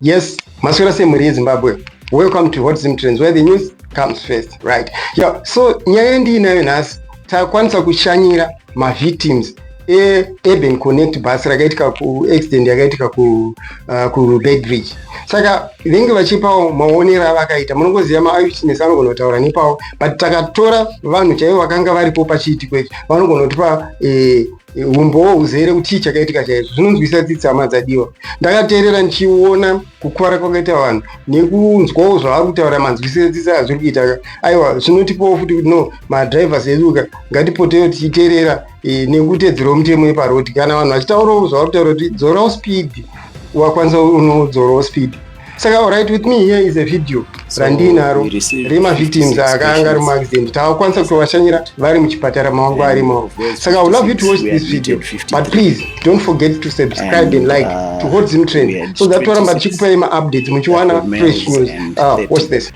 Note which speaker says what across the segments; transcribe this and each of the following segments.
Speaker 1: Yes, maswera sei mhuri yezimbabwe welcome to hot zim trends where the news comes first right yeah. so nyaya ndiinayo nhasi takwanisa kushanyira mavictims eurban connect bus rakaitika kuaccident yakaitika kubedridge uh, saka venge vachipawo maonero avakaita munongoziva maayuchinesi anogona kutaura nepawo but takatora vanhu chaivo vakanga varipo pachiitiko ichi vanogona kutipa eh, umbowo huzere kuti chii chakaitika chaizvo zvinonzwisa tsitsi hama dzadiwa ndakateerera ndichiona kukuvara kwakaita vanhu nekunzwawo zvavari kutaura manzwisire tsitsi azviri kuita aiwa zvinotipawo futi kuti no madrivers edu ka ngatipotewo tichiteerera e, nekutedzera mutemo yeparodi kana vanhu vachitaurawo zvavari kutaura kuti dzorawo speed wakwanisa unodzorawo speed saka alright with me here is a video randiinaro remavictims akaanga ari muaccident taakwanisa kutovashanyira vari muchipatara mawangu arimo saka i love you to watch this video but please don't forget to subscribe and like uh, to hold zim trend so that toramba tichikupai maupdates muchiwana fresh news uh, watch this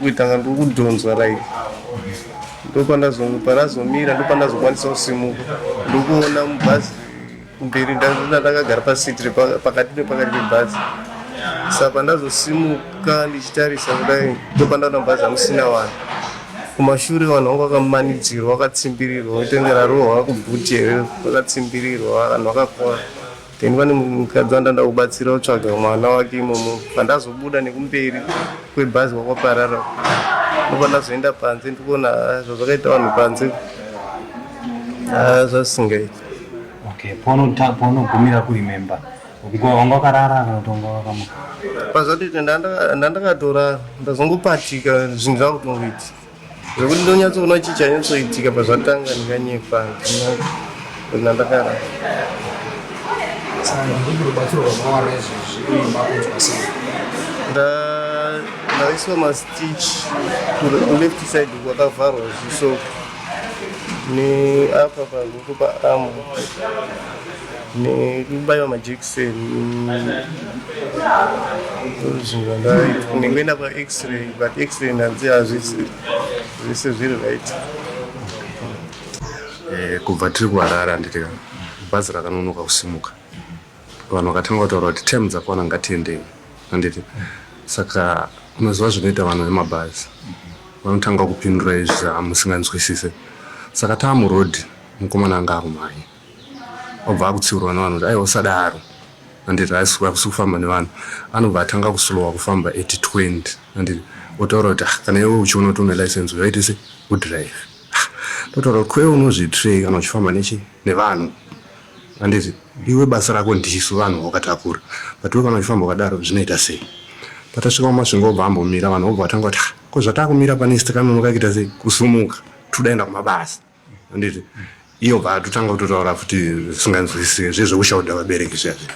Speaker 2: kuitanga ndokudhonzwa like ndopanazomira ndopandazokwanisa kusimuka ndokuona mubhazi mberi ndakagara pasiti pakati nepakati pebhazi sa pandazosimuka ndichitarisa kudai ndopandaona mubhazi amusina vanhu kumashure vanhu vanga vakamanidzirwa vakatsimbirirwa kutenga rarohwa kubhuti here vakatsimbirirwa vanhu vakakora then pane mukadzi wandanda kubatsira kutsvaga mwana wake imomo pandazobuda nekumberi kwebhazi kwakwaparara ndopa ndazoenda panze ndikuona ah, zvazvakaita vanhu panze ah, zvasingaiti okay
Speaker 3: paunogumira kuri memba wanga wakarara kana kuti wanga wakamuka pazvatoita
Speaker 2: ndandakatorara ndazongopatika zvinhu zvakutongoiti zvekuti ndonyatsoona chii chanyatsoitika pazvatanga ndikanyepa ndina ndakara ndaiswa mastich kuleft side kwakavharwa zviso neapa paruko paamu nekubaiwa majekiseni nekuenda kwax-ray but x-ray ndanzi hazvisi zvese zviri right
Speaker 4: eh, kubva tiri kuharara handiti bhazi rakanonoka kusimuka vanhu vakatanga kutaura kuti tem dzakwana ngatiendei handiti saka unoziva zvinoita vanhu vemabhazi vanotanga kupindura izvi hamusinganzwisise saka taamuroad mukomana anga akumhanya obva akutsiurwa nevanhu kuti aiwa usadaro anditi haisi kufamba nevanhu anobva atanga kuslowa kufamba at 20 anditi otaura kuti ah, kana iwe uchiona kuti une license uyaite se udrive ndotaura ah, kuti kwee unozvitrei kana uchifamba nechi nevanhu anditi iwe basa rako ndisu vanhu wakatakura but we kana uchifamba ukadaro zvinoita sei patasvika kumasvingo obva ambomira vanhu obva vatanga kuti ah, ko zvatakumira pane stranonokakuita sei kusumuka todaenda kumabasa anditi iyo bva totanga kutotaura futi zvisinganzwisise zvezvekushaudha vabereki zviya zviya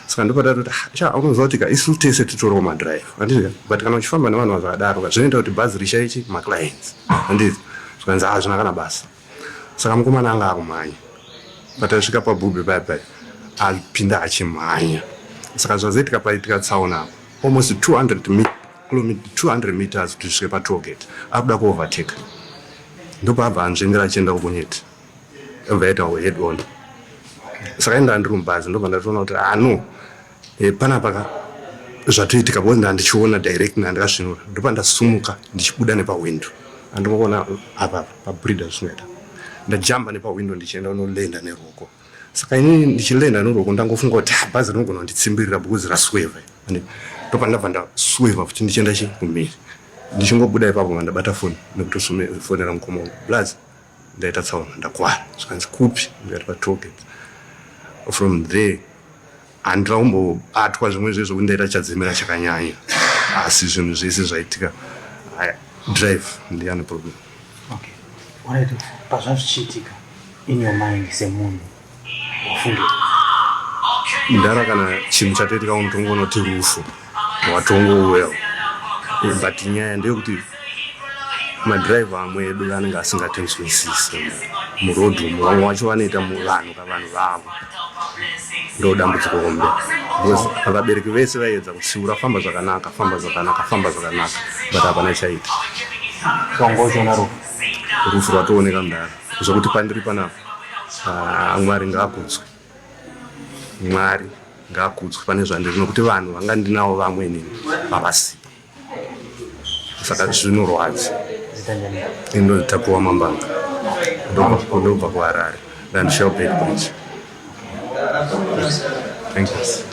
Speaker 4: saka ndipo tatoti ah, sha unoziva kuti ka isu tese titoriwo madrive anditi but kana uchifamba nevanhu vazvakadaro ka zvinoita kuti bhazi rishaichi maclients anditi zvikanzi ah zvina kana basa saka mukomana anga akumhanya patasvika pabhubhi paya paya apinda achimhanya saka zvazoitika paitika tsaona apo almost 200 mi Kilometer 200 meters kuti zvisvike patollgate akuda kuovertake ndopaabva anzvengera achienda kubonyeti obva yaita head on saka indaa ndiri mubhazi ndobva ndatoona kuti ah no e, panapa ka zvatoitika bcause ndaa ndichiona direct naa ndikasvinura ndopa ndasumuka ndichibuda nepahwindo andimoona apapa pabrida zvisingaita ndajamba nepahwindo ndichienda unolenda neruoko saka ini ndichilenda noroko ndangofunga kuti ah, bhazi rinogona kunditsimbirira because rasweva and ndopandabva ndasweva futi ndichienda chi kumhiri ndichingobuda ipapo mandabata foni nekutofonera mukoma wangu plus ndaita tsaona ndakwara zvikanzi kupi ndikati patoget from there Handina kumbobatwa zvimwe zve zvokuti ndaita chadzemera chakanyanya asi zvinhu zvese zvaitika haya drive ndiyane problem okay.
Speaker 3: right. pazvazvichiitika in your mind semunhu wafungira
Speaker 4: ndara kana chinhu chatoitika unotongonoti rufu watongo well but nyaya ndeyekuti madriver amwe edu anenge asingatinzwisise muroad umu vamwe wacho vanoita vanhu kavanhu vavo ndo dambudziko hombe because vabereki vese vaiedza kutsiura famba zvakanaka famba zvakanaka famba zvakanaka but hapana chaita
Speaker 3: wangochona rufu
Speaker 4: rufu rwatooneka mudhara zvekuti pandiri panapa ah, mwari ngaakudzwe Mwari ngaakudzwe pane zvandiri nokuti vanhu vanga ndinawo vamwe inini vavasipo saka zvinorwadza indotakuwa mambanga ndobva kuharare ndandishel bedbridge thank you